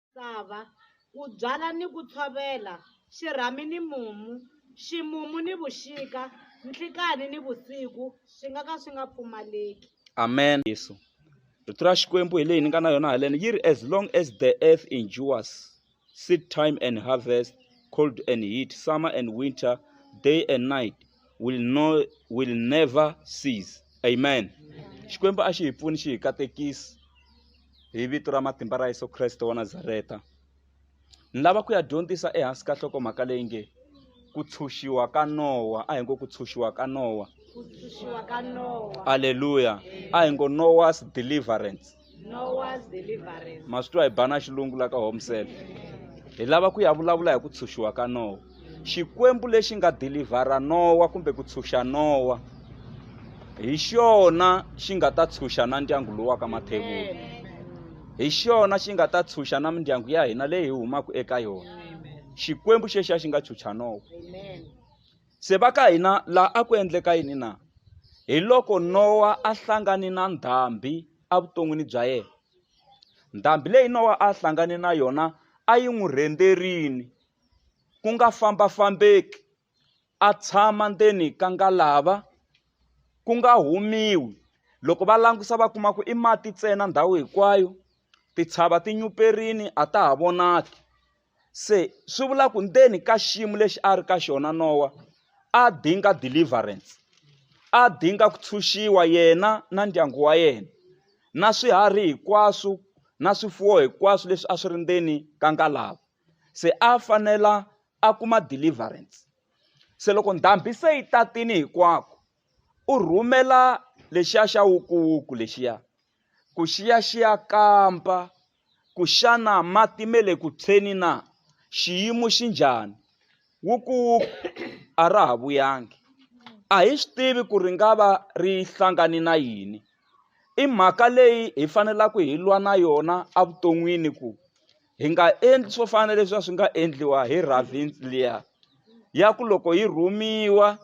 misava, ku byala ni ku tshovela, xirhami ni mumu, ximumu ni vuxika, nhlikanhi ni vusiku swi nga ka swi nga pfumaleki. Amen. Yesu. Rito ra Xikwembu hi leyi ni nga na yona haleni yi ri as long as the earth endures seed time and harvest cold and heat summer and winter day and night will, no, will never cease amen xikwembu a xi hi pfuni xi hi katekisi hi vito ra matimba ra Yesu Kreste wa Nazareta ni lava ku ya dyondzisa ehansi ka nhlokomhaka leyi nge ku tshunxiwa ka nowa a hi ngo ku tshunxiwa ka nowa aleluya a hi ngo nowas deliverance ma swi twa hi bana xilungu la ka homsel hi lava ku ya vulavula hi ku tshunxiwa ka nowa xikwembu lexi nga dilivhara nowa kumbe ku tshunxa nowa hi xona xi nga ta tshunxa na ndyangu lowu wa ka mathevula hi xona xi nga ta tshunxa na mindyangu ya hina leyi hi humaka eka yona xikwembu xexiya xi nga tshunxa nowa se va ka hina laha a ku endleka yini na hi loko nowa a hlangane na ndhambi evuton'wini bya yena ndhambi leyi nowa a hlangane na yona a yi n'wi rhenderini ku nga famba-fambeki, a tshama ndzeni ka ngalava, ku nga humiwi. Loko va langusa va kuma ku i mati ntsena ndhawu hinkwayo, titshava ti nyuperile a ta ha vonaki. Se swi vula ku ndzeni ka xiyimo lexi a ri ka xona Nowa, a dinga deliverance. A dinga ku tshunxiwa yena na ndyangu wa yena, na swiharhi hinkwaswo, na swifuwo hinkwaswo leswi a swi ri ndzeni ka ngalava. se a a fanela a kuma deliverance se loko ndhambi se yi tatini hinkwako u rhumela lexiya xa wukuwuku lexiya ku xiya xiya kamba ku xana mati me le ku tshweni na xiyimo xi njhani wukuwuku a ra ha vuyangi a hi swi tivi ku ri nga va ri hlangani na yini i mhaka leyi hi fanelaka hi lwa na yona evuton'wini ku hi nga endli swo fana na leswi a swi nga endliwa hi ravins liya ya ku loko yi rhumiwa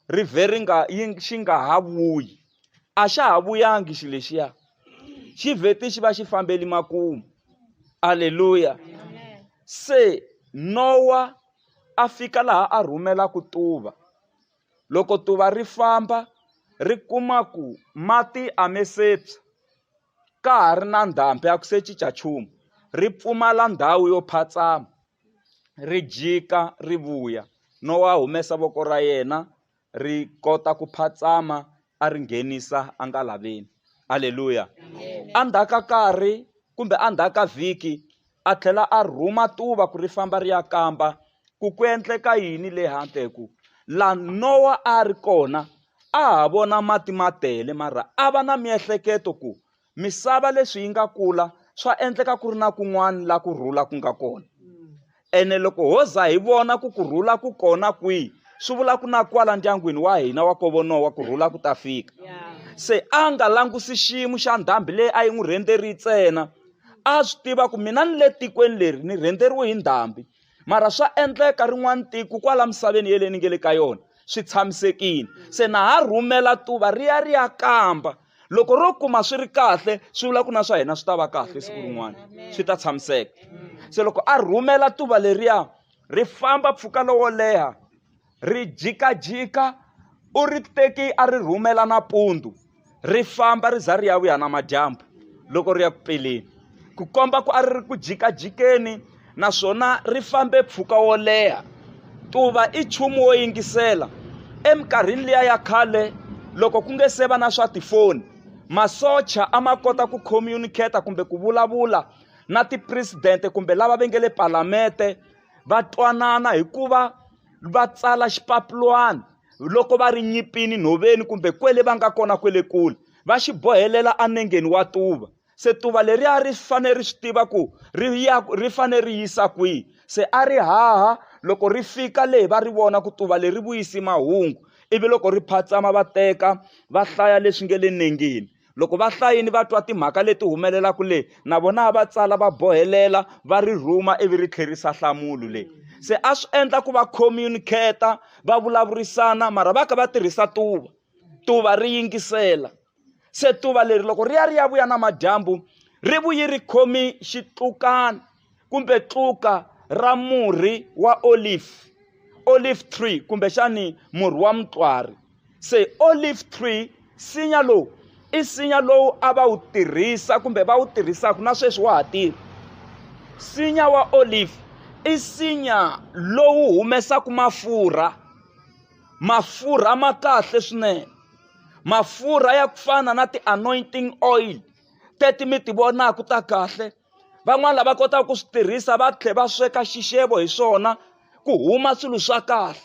rive ri nga yi xi nga ha vuyi a xa ha vuyangi xi lexiya xi vheti xi va xi fambeli makumu aleluya se nowa a fika laha a rhumela ku tuva loko tuva ri famba ri kuma ku mati a me sepsa ka ha ri na ndhambi a ku se cinca nchumu ri pfumala ndhawu yo phatsama ri jika ri vuya no wa humesa voko ra yena ri kota ku phatsama a ri nghenisa a nga laveni halleluya endzhaku ka nkarhi kumbe endzhaku ka vhiki A tlhela a rhuma tuva ku ri famba ri ya kamba ku ku endleka yini le handle, hi ku la Nowa a a ri kona a ha vona mati ma tele, mara a va na miehleketo ku misava leswi yi nga kula swa endleka ku ri na kun'wana la ku rhula ku nga kona. Ene loko ho za hi vona ku ku rhula ku kona kwihi, swi vula ku na kwala ndyangwini wa hina wa kovo Nowa ku rhula ku ta fika. Se a nga langusi ximu xa ndhambi leyi a yi n'wi rhendzeri ntsena, a swi tiva ku mina ni le tikweni leri ni rhendzeriwe hi ndhambi mara swa endleka rin'wana tiko kwala misaveni yele ni nge le ka yona swi tshamisekile se na ha rhumela tuva ri ya ri ya kamba loko ro kuma swi ri kahle swi vula ku na swa hina swi ta va kahle siku rin'wana swi ta tshamiseka se loko a rhumela tuva leriya ri famba mpfhuka lowo leha Ri jikajika, u ri teki a ri rhumela nampundzu, ri famba ri za ri ya vuya namadyambu loko ri ya ku peleni, ku komba ku a ri ri ku jikajikeni naswona ri fambe mpfhuka wo leha. Tuva i nchumu wo yingisela. Eminkarhini liya ya khale loko ku nge se va na swa tifoni, masocha a ma kota ku communicate-a kumbe ku vulavula na tipresidente kumbe lava va nge le palamete va twanana hi ku va va tsala xipapilwana loko va ri nyipini nhoveni kumbe kwele va nga kona kwele kule va xi bohelela anengeni wa tuva se tuva leriya ri fanele ri swi tiva ku ri ya ri fanele ri yisa kwihi se a ri haha loko ri fika leyi va ri vona ku tuva leri vuyisi mahungu ivi loko ri phatsama va teka va hlaya leswi nge le nengeni loko vahlayini va twa timhaka leti humelelaka leyi na vona a va tsala va bohelela va ri rhuma ivi ri tlherisa nhlamulo leyi se a swi endla ku va communicata va vulavurisana mara va ka va tirhisa tuva tuva ri yingisela se tuva leri loko ri ya ri ya vuya namadyambu ri vuyi ri khomi xitlukana kumbe tluka ra murhi wa olive olive tree kumbexani murhi wa mutlwari se olive tree nsinya lowu i nsinya lowu a va wu tirhisa kumbe va wu tirhisaka na sweswi wa ha tirha nsinya wa olive i nsinya lowu humesaka mafurha mafurha ma kahle swinene mafurha ya ku fana na ti-anointing oil teti mi ti vonaka ta kahle van'wani lava kotaka ku swi tirhisa va tlhe va sweka xixevo hi swona ku huma swilo swa kahle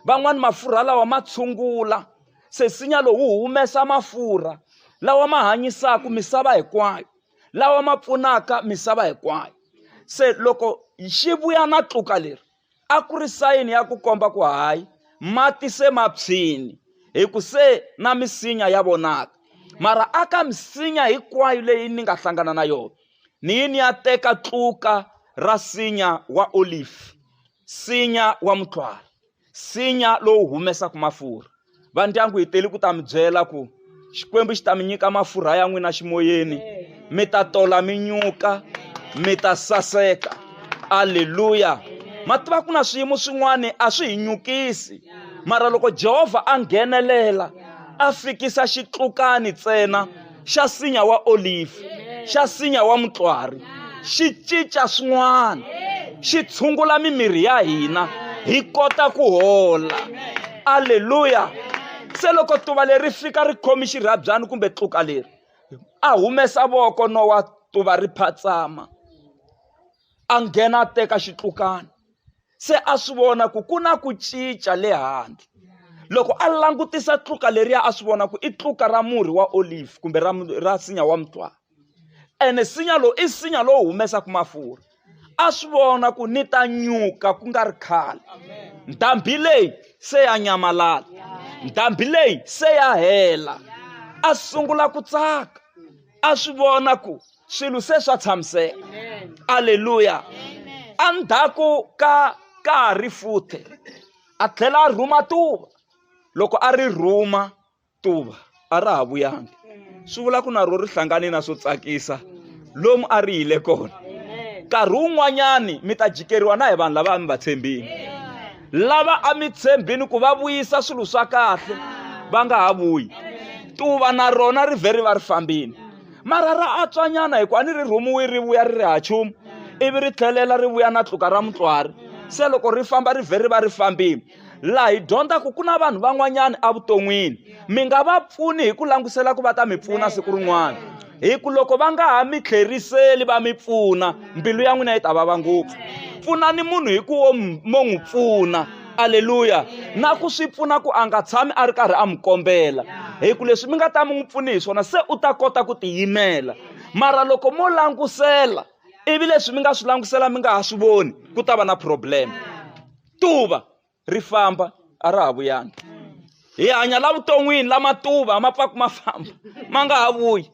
van'wani mafurha lawa ma tshungula se nsinya lowu wu humesa mafurha lawa ma hanyisaka misava hinkwayo lawa ma pfunaka misava hinkwayo se loko xi vuya na tluka leri a ku ri sayini ya ku komba ku hayi mati se ma phyini hi ku se na misinya ya vonaka mara a ka misinya hinkwayo leyi ni nga hlangana na yona ni yi ni ya teka tluka ra sinya wa olive sinya wa mutlwari sinya lowu humesaka mafurha va ndyangu hi teli ku ta mi byela ku xikwembu xi ta mi nyika mafurha ya n'wina ximoyeni mi ta tola mi nyuka mi ta saseka aleluya ma tiva ku na swiyimo swin'wana a swi hi nyukisi mara loko jehovha a nghenelela a fikisa xitlukani ntsena xa sinya wa olive xa sinya wa mutlwari xi cinca swin'wana xi tshungula mimiri ya hina hi kota ku hola aleluya se loko tuva leri fika ri khomi xirhabyani kumbe tluka leri a humesa voko no wa tuva ri phatsama a nghena a teka xitlukana se a swi vona ku ku na ku cinca le handle loko a langutisa tluka leriya a swi vona ku i tluka ra murhi wa olive kumbe ra ra sinya wa mutwana ene sinya lowu i sinya lowu humesaka mafurha a swi vona ku ni ta nyuka ku nga ri khale ndhambi leyi se ya nyamalala ndhambi leyi se ya hela a sungula ku tsaka a swi vona ku swilo se swa tshamiseka aleluya endzhaku ka ka ha ri futhe a tlhela a rhuma tuva loko a ri rhuma tuva a ra ha vuyangi swi vula ku na ro ri hlangane na swo tsakisa lomu a ri yile kona nkarhi wun'wanyani mi ta jikeriwa na hi vanhu lava a mi va tshembini lava a mi tshembini ku va vuyisa swilo swa kahle va nga ha vuyi tuva na rona ri vhe ri va ri fambini mara ra atswanyana hikuva a ni ri rhumiwi ri vuya ri ri ha chumu ivi ri tlhelela ri vuya na tluka ra mutswari se loko ri famba ri vhe ri va ri fambile laha hi dyondzaka ku na vanhu van'wanyana evuton'wini mi nga va pfuni hi ku langutisela ku va ta mi pfuna siku rin'wana hi ku loko va nga ha mi tlheriseli va mi pfuna mbilu ya n'wina yi ta vava ngopfu pfunani munhu hi ku wo mo n'wi pfuna aleluya na ku swi pfuna ku a nga tshami a ri karhi a n'wi kombela hi ku leswi mi nga ta mi n'wi pfuni hi swona se u ta kota ku tiyimela mara loko mo langutisela ivi leswi mi nga swi langutisela mi nga ha swi voni ku ta va na problem tuva ri famba a ra ha vuyangi hi hanya la vuton'wini lama tuva ma pfaku ma famba ma nga ha vuyi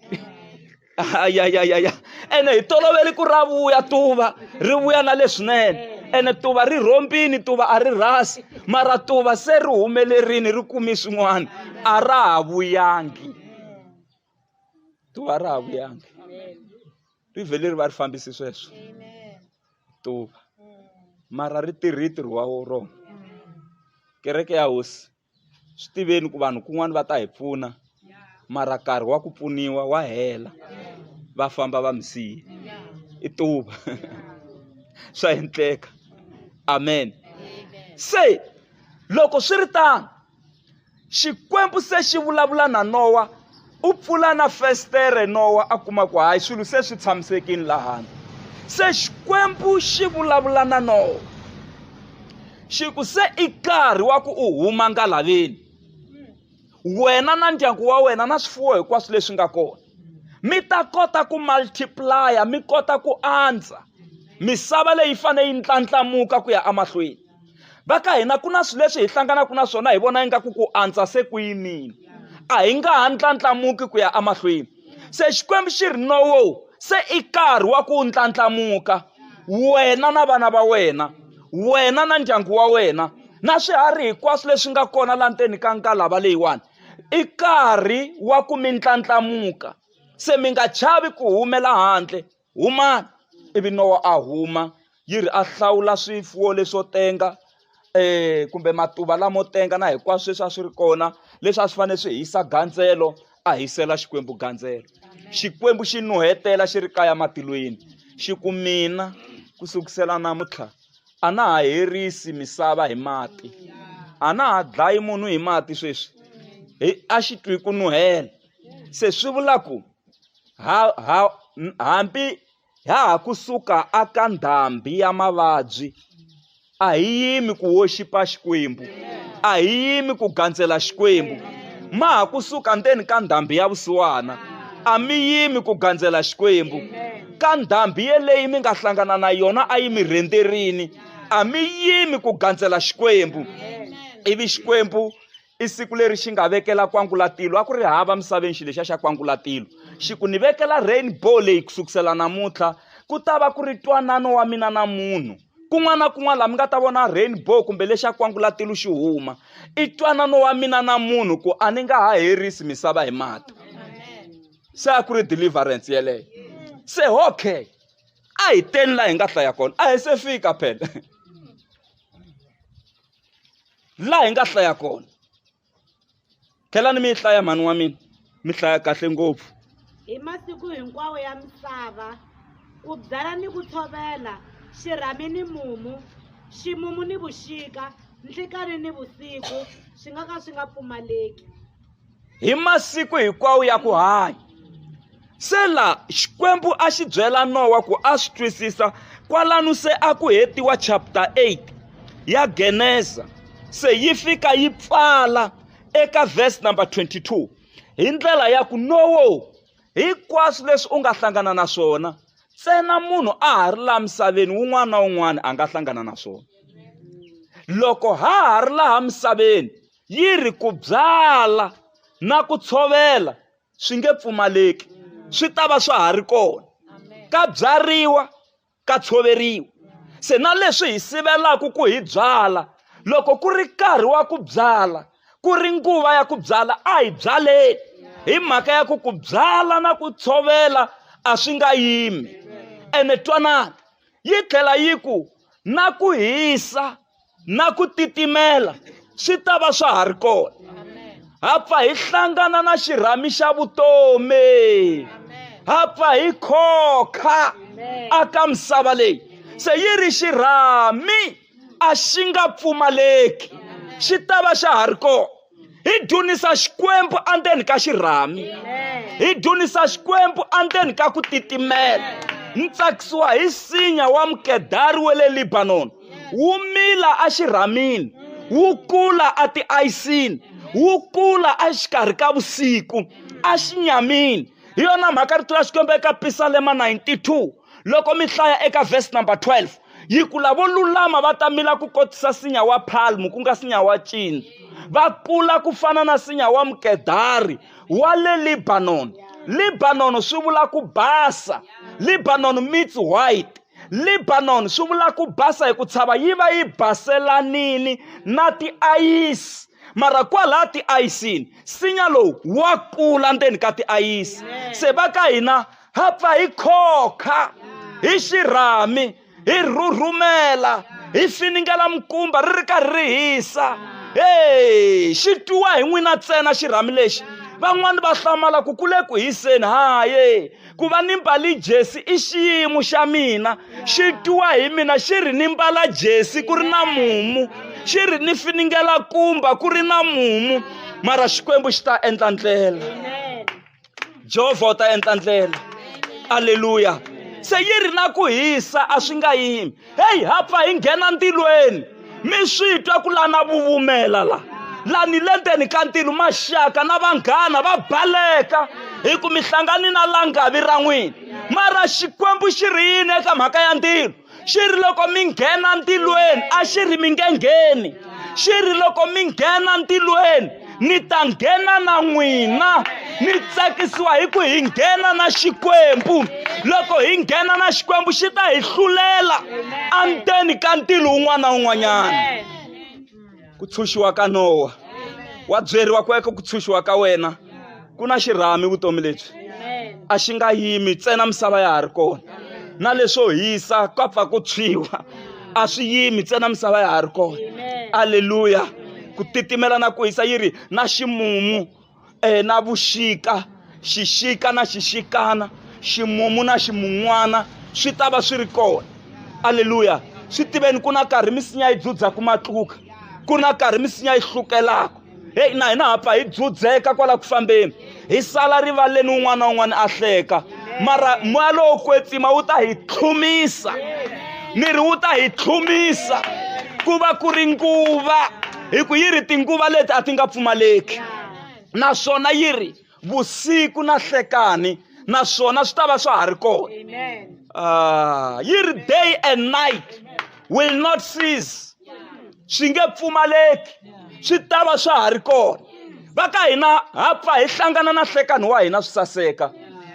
ayayayaya ene hi toloveli ku ra vuya tuva ri vuya na leswinene ene tuva ri rhombini tuva a ri rhasi mara tuva se ri humelerini ri kumi swin'wana a ra ha vuyangi tuva a ra ha vuyangi ri vhele ri va ri fambisi sweswo tuva mara ri tirhi ntirho wa rona kereke ya hosi swi tiveni ku vanhu kun'wana va ta hi pfuna mara nkarhi wa ku pfuniwa wa hela va famba va mi siye i tuva swa endleka amen se loko swi ri tano xikwembu se xi vulavula na nowa u pfula na festere nowa a kuma ku hayi swilo se swi tshamisekile lahani se xikwembu xi vulavula na nowa xi ku se i nkarhi wa ku u huma ngalaveni wena na ndyangu wa wena na swifuwo hinkwaswo leswi nga kona mi ta kota ku multiplaya mi kota ku andza misava leyi fanele yi ndlandlamuka ku ya emahlweni va ka hina ku na swilo leswi hi hlanganaka na swona hi vona ingaku ku antswa se ku yimile a hi nga ha ndlandlamuki ku ya emahlweni se xikwembu xi ri nowo se i nkarhi wa ku ndlandlamuka wena na vana va wena wena na ndyangu wa wena na swiharhi hinkwaswo leswi nga kona la ndzeni ka nkalava leyiwani i nkarhi wa ku mi ndlandlamuka se mi nga chavi ku humela handle Humani! Ivi Nowa a huma, yi ri a hlawula swifuwo leswo tenga um kumbe matuva lamo tenga na hinkwaswo leswi a swi ri kona leswi a swi fanele swi hisa gandzelo a hisela xikwembu gandzelo xikwembu xi nuhetela xi ri kaya matilweni xi ku mina ku sukusela namuntlha a na ha herisi misava hi mati a na ha dlayi munhu hi mati sweswi hi a xi twi ku nuhela se swi vula ku ha, ha, hambi ha ha kusuka aka ndhambi ya mavabyi a hi yimi ku woxipa xikwembu a hi yimi ku gandzela xikwembu ma ha kusuka ndzeni ka ndhambi ya vusiwana a mi yimi ku gandzela xikwembu ka ndhambi yeleyi mi nga hlangana na yona a yi mi rhendzerini a mi yimi ku gandzela xikwembu ivi xikwembu i siku leri xi nga vekela kwangulatilo a ku ri hava misaveni xilo lexiya xa kwangulatilo xi ku ni vekela rainbow leyi ku sukusela namuntlha ku ta va ku ri twanano wa mina na munhu kun'wana na kun'wana laha mi nga ta vona rainbow kumbe lexi ya kwangulatilo xi huma i twanano wa mina na munhu ku a ni nga ha herisi misava hi mati se a ku ri deliverance yeleyo se okay a hi teni laha hi nga hlaya kona a hi se fika phela laha hi nga hlaya kona tlhelani mi yi hlaya mhani wa mina mi hlaya kahle ngopfu hi masiku hinkwawo ya misava ku byala ni ku tshovela xirhami ni mumu ximumu ni vuxika nhlikani ni vusiku swi nga ka swi nga pfumaleki hi masiku hinkwawo ya ku hanya se la xikwembu a xi byela nowa ku a swi twisisa kwalano se a ku hetiwa chapter 8 ya geneza se yi fika yi pfala eka verse number 22 hi ndlela ya ku nowo hinkwaswo leswi u nga hlangana na swona ntsena munhu a ha ri laha misaveni wun'wana na wun'wana a nga hlangana na swona loko ha ha ri laha misaveni yi ri ku byala na ku tshovela swi nge pfumaleki swi ta va swa ha ri kona ka byariwa ka tshoveriwa se na leswi hi sivelaka ku hi byala loko ku ri nkarhi wa ku byala ku ri nguva ya ku byala a hi byaleni hi mhaka ya ku ku byala na ku tshovela a swi nga yimi ene twanana yi tlhela yi ku na ku hisa na ku titimela swi ta va swa ha ri kona ha pfa hi hlangana na xirhami xa vutomi ha pfa hi khokha aka misava leyi se yi ri xirhami a xi nga pfumaleki xi ta va xa ha ri kona hi dzunisa xikwembu endzeni ka xirhami hi dzunisa xikwembu endzeni ka ku titimela ni tsakisiwa hi sinya wa mukedari wa le libanoni wu mila exirhamini wu kula etiayisini wu kula exikarhi ka vusiku exinyamini hi yona mhaka rito ra xikwembu eka pisalema 92 loko mi hlaya eka verse number 12 yi ku lavo lulama va ta mila ku kotisa sinya wa palmu ku nga sinya wa cini va kula ku fana na sinya wa mukedari wa le libanoni libanoni swi vula ku basa libanoni meets white libanoni swi vula ku basa hi ku tshava yi va yi baselanini na tiayisi mara kwalaha tiayisini sinya lowu wa kula ndzeni ka tiayisi se va ka hina ha pfa hi khokha hi xirhami hi rhurhumela hi finingela mikumba ri ri karhi ri hisa e xi twiwa hi n'wina ntsena xirhami lexi van'wani va hlamala ku kule ku hiseni haye ku va ni mbali jesi i xiyimo xa mina xi twiwa hi mina xi ri ni mbala jesi ku ri na mumu xi ri ni finingela kumba ku ri na mumu mara xikwembu xi ta endla ndlela jehovha u ta endla ndlela aleluya se yi ri na ku hisa a swi nga yimi heyi ha pfa hi nghena ntilweni mi swi twa ku lana vuvumela la lani le ndzeni ka ntilo maxaka na vanghana va baleka hi ku mi hlangani na langavi ra n'wina mara xikwembu xi ri yini eka mhaka ya ntilo xi ri loko mi nghena ntilweni a xi ri mi nge ngheni xi ri loko mi nghena ntilweni ni ta nghena na n'wina ni tsakisiwa hi ku hi nghena na xikwembu loko hi nghena na xikwembu xi ta hi hlulela endzeni ka ntilo wun'wana na wun'wanyana ku tshunxiwa ka nowa wa byeriwa ku eka ku tshunxiwa ka wena ku na xirhami vutomi lebyi a xi nga yimi ntsena misava ya ha ri kona na leswo hisa ka pfa ku tshwiwa a swi yimi ntsena misava ya ha ri kona aleluya ku titimela na ku hisa yi ri na ximumu e na vuxika xixika na xixikana ximumu na ximun'wana swi ta va swi ri kona aleluya swi tiveni ku na karhi misinya yi dzudzaka matluka ku na karhi misinya yi hlukelaka heyi na hina ha pfa hi dzudzeka kwala ku fambeni hi sala rivaleni un'wana na un'wana a hleka mara moya lowo kwetsima wu ta hi tlhumisa miri wu ta hi tlhumisa ku va ku ri nguva hi ku yi ri tinguva leti a ti nga pfumaleki naswona yi ri vusiku na hlekani naswona swi ta va swa ha ri kona ah, yi ri day and night will not cease swi nge pfumaleki swi ta va swa ha ri kona va ka hina ha pfa hi hlangana na hlekani wa hina swi saseka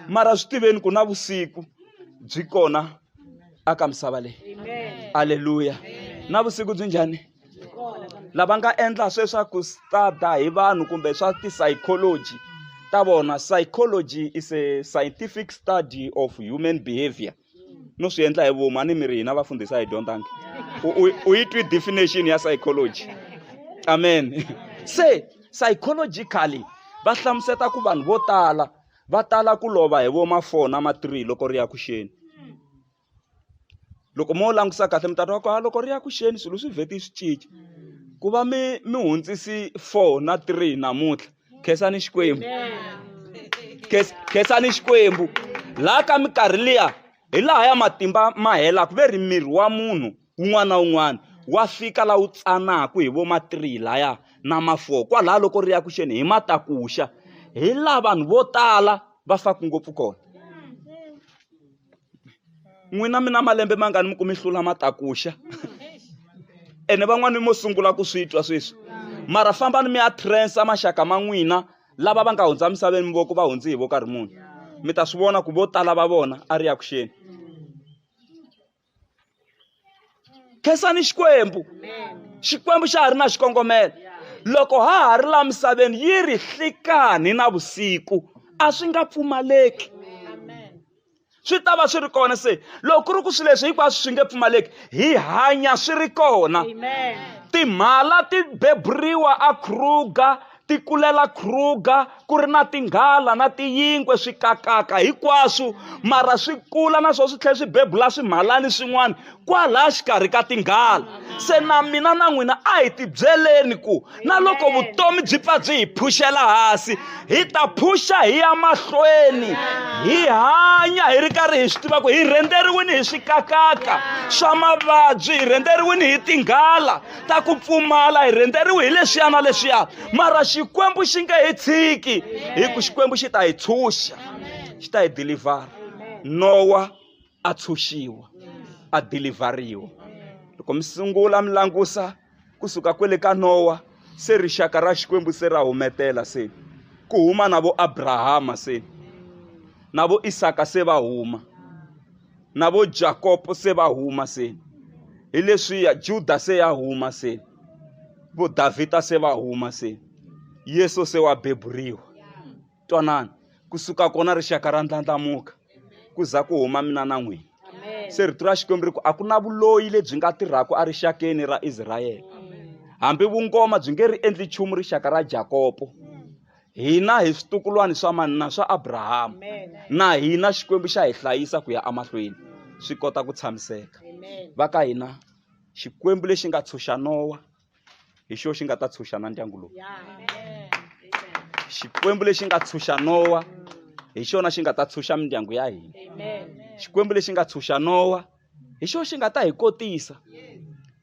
mara swi tiveni ku na vusiku byi kona aka misava leyi aleluya na vusiku byi njhani lava nga endla sweswaku stada hi vanhu kumbe swa ti-psychology ta vona psychology is a scientific study of human behavior no swi endla hi vomu a ni mi ri hina vafundhisa hi dyondzangi u yi twi definition ya psychology amen se psychologically va hlamuseta ku vanhu vo tala va tala ku lova hi vo ma-four na ma-three loko ri ya ku xeni loko mo langutisa kahle mi ta twa ku ha loko ri ya ku xeni swilo swi vheti swi cinca ku va mi mi hundzisi four na three namuntlha khensani xikwembu khensani xikwembu laha ka minkarhi liya hi laha ya matimba ma helaka ve ri miri wa munhu un'wana na un'wana wa fika la wu tsanaka hi vo ma three laya na ma four kwalaho loko ri ya ku xeni hi matakuxa hi laha vanhu vo tala va faka ngopfu kona n'wina mi na malembe mangani mi ku mi hlula matakuxa ene van'wani mo sungula ku swi twa sweswi mara fambani mi ya trensa maxaka ma n'wina lava va nga hundza misaveni voko va hundzi hi vo karhi munhu mi ta swi vona ku vo tala va vona a ri ya ku xeni khensani xikwembu xikwembu xa ha ri na xikongomelo loko ha ha ri la misaveni yi ri hlikani na vusiku a swi nga pfumaleki swi ta va swi ri kona se loko ku ri ku swilo leswi hinkwaswo swi nge pfumaleki hi hanya swi ri kona timhala ti beburiwa a kruger ti kulela kruger ku ri na tinghala na tiyinkwe swi kakaka hinkwaswo mara swi kula na swona swi tlhela swi bebula swimhalani swin'wana kwalaha xikarhi ka tinghala se na mina na n'wina a hi tibyeleni ku na loko vutomi byi pfa byi hi phuxela hansi hi ta phuxa hi ya mahlweni hi hanya hi ri karhi hi swi tiva ku hi rhendzeriwini hi swikakaka swa mavabyi hi rhendzeriwini hi tinghala ta ku pfumala hi rhendzeriwi hi leswiya na leswiya mara xikwembu xi nge hi tshiki hi ku xikwembu xi ta hi tshunxa xi ta hi dilivhara nowa a tshunxiwa a dilivhariwa loko mi sungula mi langusa kusuka kwele ka nowa se rixaka ra xikwembu se ra humetela se ku huma na vo abrahama se na vo isaka se va huma na vo jakopo se va huma se hi leswiya juda se ya huma se vo davhida se va huma se yesu se wa beburiwa twanana ku suka kona rixaka ra ndlandlamuka ku za ku huma mina na n'wina se rito ra xikwembu ri ku a ku na vuloyi lebyi nga tirhaka erixakeni ra israyele hambi vungoma byi nge ri endli nchumu rixaka ra jakopo hina hi switukulwana swa mani na swa abrahama na hina xikwembu xa hi hlayisa ku ya emahlweni swi kota ku tshamiseka va ka hina xikwembu lexi nga tshunxa nowa hi xo xi nga ta tshunxa na ndyangu lowu xikwembu lexi nga tshunxa nowa hi xona xi nga ta tshunxa mindyangu ya hina xikwembu lexi nga tshunxa nowa hi xona xi nga ta hi kotisa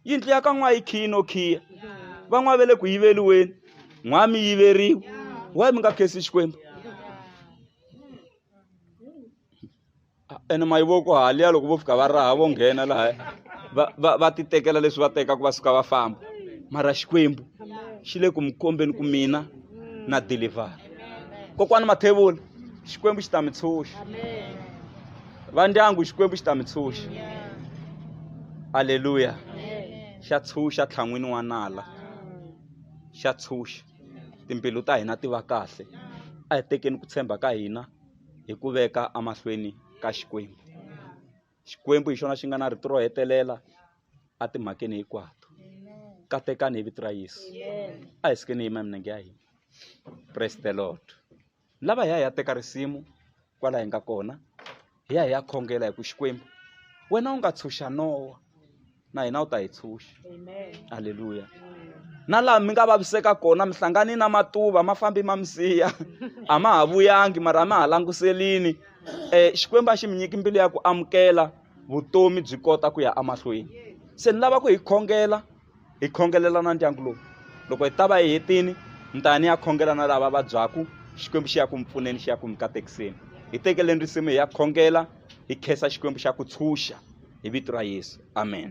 yindlu ya ka n'wa yi khiyi no khiya van'wa ve le ku yiveliweni n'wa mi yiveriwa wa mi nga khesi xikwembu ene mayi vo ku haliya loko vo fika va raha vo nghena laha va va va ti tekela leswi va tekaka va suka va famba mara xikwembu xi le ku mi kombeni ku mina na deliver kokwani mathevula xikwembu xi ta mi tshunxa va ndyangu xikwembu xi ta mi tshunxa aleluya xa tshunxa tlhan'wini wa nala xa tshunxa timbilu ta hina ti va kahle a hi tekeni ku tshemba ka hina hi ku veka emahlweni ka Xikwembu. Xikwembu hi xona xi nga na rito ro hetelela etimhakeni hinkwato. Katekani hi vito ra Yesu. A hi sukeni hi yima milenge ya hina. Praise the Lord. Lava hi ya hi ya teka risimu kwala hi nga kona hi ya hi ya khongela hi ku Xikwembu wena u nga tshunxa Nowa na hina u ta hi tshunxa halleluya na laha mi nga vaviseka kona mi hlangani na matuva ma fambi ma mi siya a ma ha vuyangi mara a ma ha languselini um xikwembu a xi mi nyiki mbilu ya ku amukela vutomi byi kota ku ya emahlweni se ni lava ku hi khongela hi khongelela na ndyangu lowu loko hi ta va hi hetini mi ta ni ya khongela na lava vabyaku xikwembu xi ya ku mi pfuneni xi ya ku mi katekiseni hi tekeleni risimu hi ya khongela hi khensa xikwembu xa ku tshunxa hi vito ra yesu amen